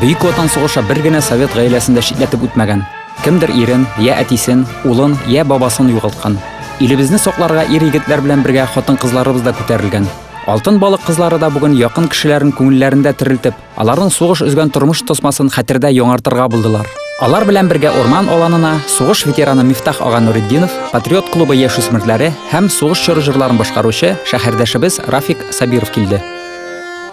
Бөек Ватан сугышы бер генә совет гаиләсен дә читләтеп үтмәгән. Кемдер ирен, я әтисен, улын, я бабасын югалткан. Илебезне сакларга ир-егетләр белән бергә хатын-кызларыбыз да күтәрелгән. Алтын балык кызлары да бүген якын кешеләрен күңелләрендә терелтеп, аларның сугыш өзгән тормыш тосмасын хәтердә яңартырга булдылар. Алар белән бергә Урман аланына сугыш ветераны Мифтах ага Нуретдинов, Патриот клубы яшүсмерләре һәм сугыш чоры җырларын башкаручы шәһәрдәшебез Рафик Сабиров килде.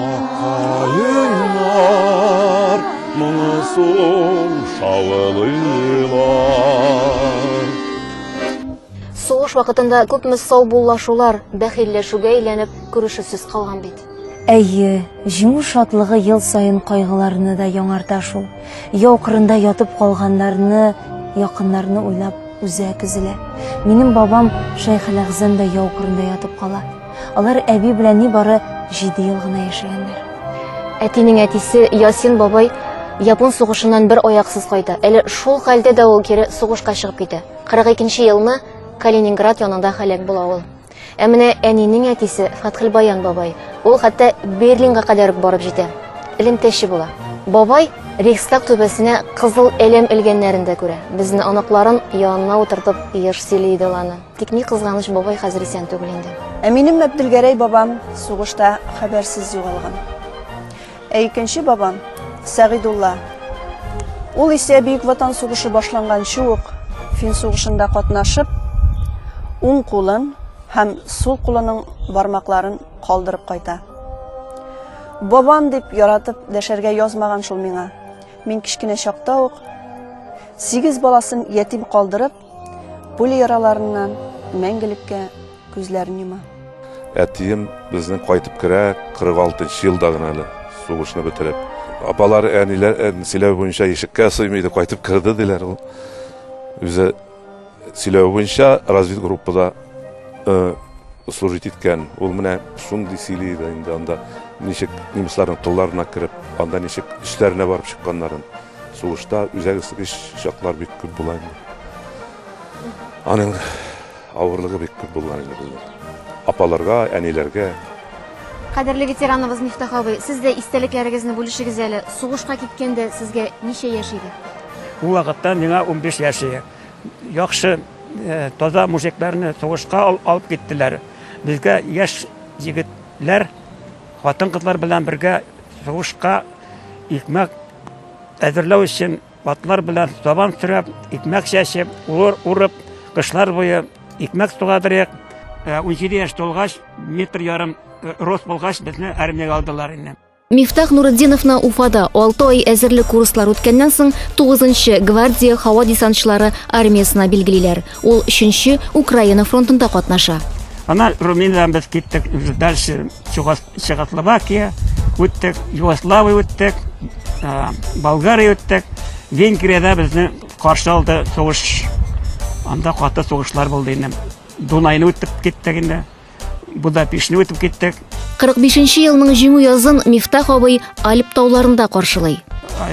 Акаеннар моңы соң шавылыйлар. Сугыш вакытында күпме саубуллашулар бәхилләшүгә әйләнеп күрешүсез калган бит. Әйе, җиңү шатлыгы ел саен кайгыларны да яңарта шул. Яу кырында ятып калганнарны, якыннарны уйлап, үзе әкезелә. Минем бабам Шәйхеләгъзәм дә яу кырында ятып кала. Алар әби белән ни бары җиде ел гына яшәгәннәр. Әтинең әтисе Ясин бабай Япон сугышыннан бер аяксыз кайта. Әле шул хәлдә дә ул кире сугышка чыгып китә. 42 елны Калининград янында халек була ул. Ә менә әнинең әтисе Фатхилбаян бабай. Ул хәтта Берлинга кадәр үк барып җитә. Элемтәче була. Бабай Рейхстаг түбәсенә кызыл әлем элгәннәрен дә күрә. Безне аныкларын янына утыртып еш сөйли иде ул аны. Тик ни кызганыч, бабай хәзер исән түгел инде. Ә минем Мәбделгәрәй бабам сугышта хәбәрсез югалган. Ә икенче бабам, Сәгыйдулла, ул исә Бөек Ватан сугышы башланганчы ук фин сугышында катнашып, уң кулын һәм сул кулының бармакларын калдырып кайта. Бабам дип яратып дәшәргә язмаган шул миңа. Мин кечкенә чакта ук сигез баласын ятим калдырып, Пуля яраларыннан мәңгелеккә күзләрен йома. Әтием безнең кайтып керә 46 нчы елда гына әле, сугышны бетереп. Апалар, әниләр сөйләве буенча ишеккә сыймый иде, кайтып керде диләр. Ул үзе сөйләве буенча разведгруппада э, служить иткән. Ул менә шундый сөйли иде инде анда ничек немецларның тылларына кереп, анда ничек эшләренә барып чыкканнарын. Сугышта үзәгесгеч чаклар бик күп була инде. Аның авырлыгы бик күп булган инде бездә. Апаларга, әниләргә. Кадерле ветераныбыз Мифтах абый, сез дә истәлекләрегезне бүлешегез әле. Сугышка киткәндә сезгә ничә яшь иде? Ул вакытта миңа унбиш яшь иде. Яхшы, э, таза мужикларны сугышка алып киттеләр. Безгә яшь егетләр Хатын-кызлар белән бергә сугышка икмәк әзерләү өчен атлар белән сабан сөрәп, икмәк чәчеп, ур урып, кышлар буе икмәк сугадырык. 17 э, яшь тулгач, метр ярым э, рост булгач, безне армиягә алдылар инде. Мифтах Нурыддиновна Уфада 6 ай әзерлек курслар үткәннән соң 9 гвардия һава десантчылары армиясенә билгелиләр. Ул өченче Украина фронтында катнаша. Ана Румыниядән без киттек, дальше Чехословакия үттек, Югославия үттек, Болгария үттек. Венгриядә безне каршы алды сугыш. Анда каты сугышлар булды инде. Дунайны үтеп киттек инде. Будапештны үтеп киттек. 45 елның җиңү язын Мифтах абый Альп тауларында каршылый.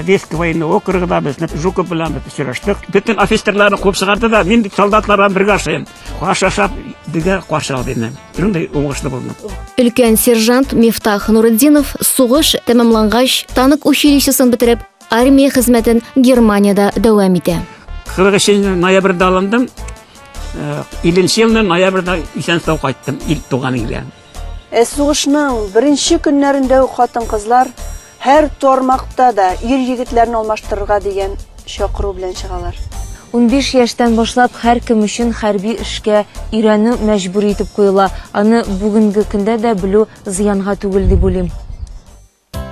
Веска военный округында без Жуков белән без очраштык. Бөтен офицерларны куып чыгарды да, мин солдатлар белән бергә ашыйм. Аш ашап, бергә каршы алды мине. Шундый уңышлы булдым. Өлкән сержант Мифтах Нурытдинов сугыш тәмамлангач, танк училищесын бетереп, армия хезмәтен Германиядә дәвам итә. 43 ноябрьдә алындым. Иленче э, елны ноябрьдә исән сау кайттым ил туган илгә. Э, сугышның беренче көннәрендә үк хатын-кызлар һәр тормакта да ир егетләрен алмаштырырга дигән чакыру белән чыгалар. 15 яшьтән башлап һәркем өчен хәрби эшкә өйрәнү мәҗбүри итеп куела. Аны бүгенге көндә дә белү зыянга түгел дип уйлыйм.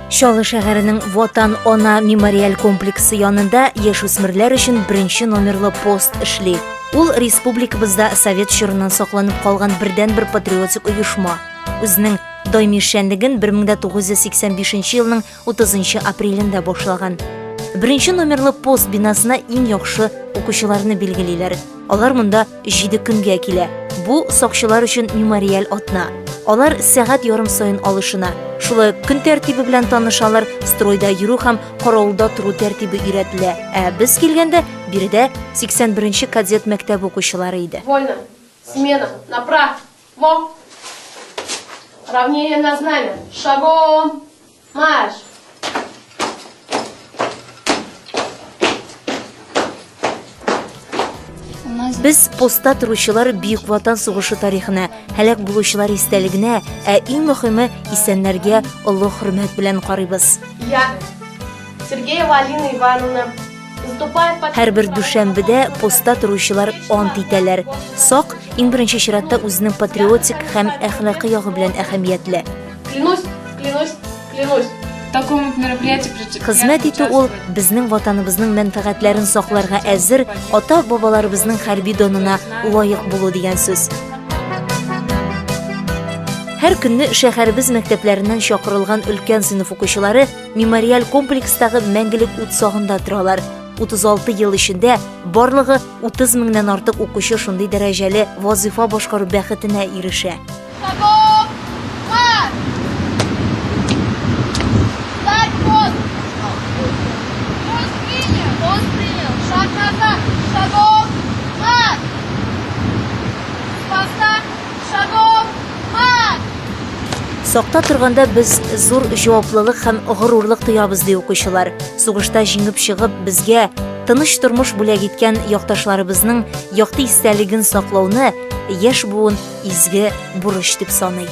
Чаллы шәһәренең Ватан ана мемориаль комплексы янында яшүсмерләр өчен беренче номерлы пост эшли. Ул республикабызда совет чорыннан сакланып калган бердәнбер патриотик оешма. Үзенең даими эшчәнлеген 1985 елның 30 апрелендә башлаган. Беренче номерлы пост бинасына иң яхшы укучыларны билгелиләр. Алар монда Җиде көнгә килә. Бу сакчылар өчен мемориаль атна. Алар сәгать ярым саен алышына. Шулай ук көн тәртибе белән танышалар, стройда йөрү һәм каравылда тору тәртибе өйрәтелә. Ә без килгәндә биредә 81 нче кадет мәктәбе укучылары иде. Вольно. Смена. Направо. Во! Равнение на знамя. Шагом! Марш! Без постта торучылар Бөек Ватан сугышы тарихына, һәлак булучылар истәлегенә, ә иң мөхиме исәннәргә олы хөрмәт белән карыйбыз. Я, Сергеева Алина Ивановна, Һәрбер дүшәмбедә постта торучылар ант итәләр. Сак, иң беренче чиратта үзенең патриотик һәм әхлакый ягы белән әһәмиятле. Клянусь, клянусь, клянусь. Хезмәт итү ул безнең ватаныбызның мәнфәгатьләрен сакларга әзер ата-бабаларыбызның хәрби донына лаек булу дигән сүз. Һәр көнне шәһәребез мәктәпләреннән чакырылган өлкән сыйныф укучылары Мемориаль комплекстагы мәңгелек ут сагында торалар. 36 ел эчендә барлыгы 30 меңнән артык укучы шундый дәрәҗәле вазыйфа башкару бәхетенә ирешә. Сакта торганда без зур җаваплылык һәм горурлык тоябыз, ди укучылар. Сугышта җиңеп чыгып, безгә тыныч тормыш бүләк иткән якташларыбызның якты истәлеген саклауны яшь буын изге бурыч дип саный.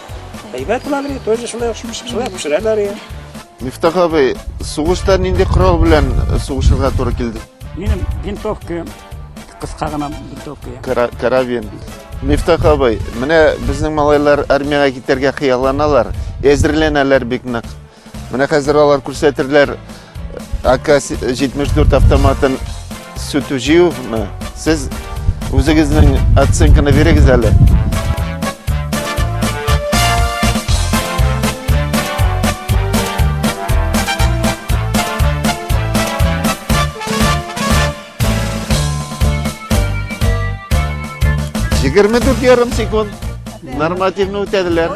Әйбәт була бит, тоже шулай шулай пешерәләр я. Мифтах абый, сугышта нинди корал белән сугышырга туры килде? Минем винтовка кыска гына винтовка. Карабин. Мифтах абый, менә безнең малайлар армиягә китәргә хыялланалар, әзерләнәләр бик нык. Менә хәзер алар күрсәтерләр АК-74 автоматын сүтү җыюны. Сез үзегезнең оценканы бирегез әле. Егерме дүрт ярым секунд нормативны үтәделәр.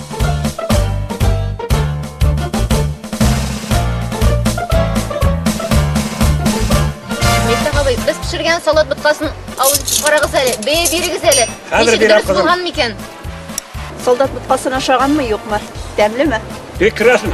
Без пешергән салат боткасын алып карагыз әле, бәя бирегез әле. Хәзер бирәм кызым. Булган микән? Солдат боткасын ашаганмы, юкмы? Тәмлеме? Прекрасно.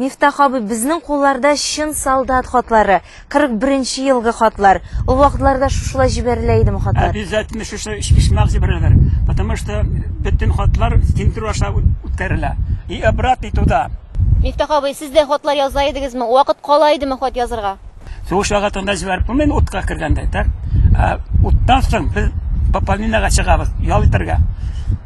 Мифтах абый, безнең кулларда чын солдат хатлары, 41 нче елгы хатлар. Ул вакытларда шушылай җибәрелә идеме хатлар? Обязательно шушы почмак җибәрәләр, потому что бөтен хатлар тинтеру аша үткәрелә. И обратный туда. Мифтах абый, сез дә хатлар яза идегезме? Вакыт кала идеме хат язырга? Сугыш вакытында җибәреп булмыймы утка кергәндә, так? Ә уттан соң без пополненияга чыгабыз, ял итәргә.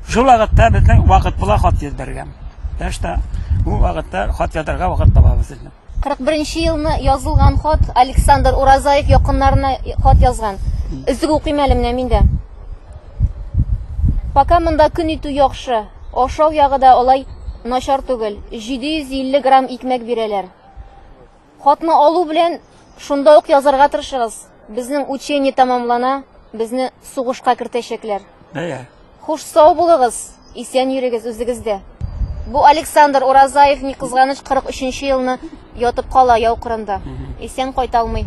Шул вакытта безнең вакыт була хат җибәргән. Башта бу вакытта хат язарга вакыт табабыз инде. 41 елны язылган хат Александр Уразаев якыннарына хат язган. Өзек укыйм әле менә мин дә. Пока монда көн итү яхшы. Ашау ягы да алай начар түгел. 750 грамм икмәк бирәләр. Хатны алу белән шунда ук язарга тырышыгыз. Безнең учение тәмамлана, безне сугышка кертәчәкләр. Бәя. Хуш сау булыгыз, исән йөрегез үзегез дә. Бу Александр Уразаев, ни кызганыч, 43 нче елны ятып кала яу кырында. Исән кайталмый.